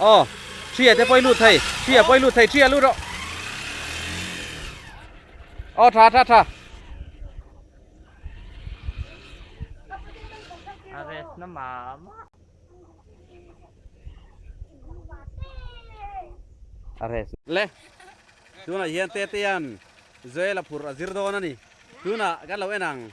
Aw, ṭhia te pawhi lut thei, ṭhia pawhi lut thei, ṭhia lut rawh. Aw, ṭha, ṭha, ṭha. Arrest na ma ma. Arrest. Le. Tuna hian te te yan Joel a phur a zir dawn a ni. Tuna kan lo en ang.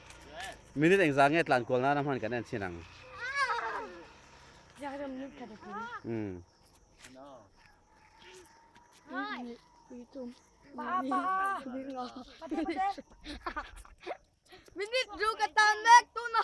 Minute engzah nge tlan kual nana hman kan en chin ang. Minute du ka tan mek tuna.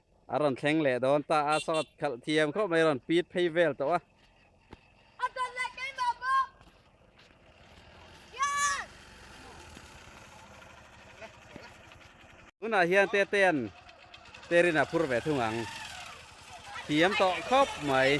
A rawn thleng leh dawn ta a, sawt khalh thiam khawp mai a rawn pit phei vel tawh a. A don leh keimah bawk. Yan! Tunah hian Tetean Terin a phur ve thung ang. Thiam tawh khawp mai.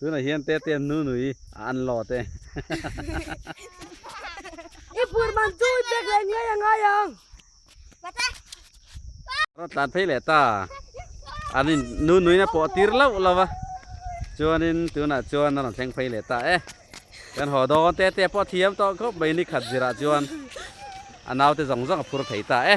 Tunah hian Tetian Nunui a an law te. I phur man chu i pek leh ngai a ngai ang. Rawt tlan phei leh ta. An in Nunui na pawh tir lauh lo va. Chuanin tunah chuan a rawn thleng phei leh ta e. Kan haw dawn Tetia pawh thiam tawh khawp mai ni khat zirah chuan a naute zawng zawng a phur thei ta e.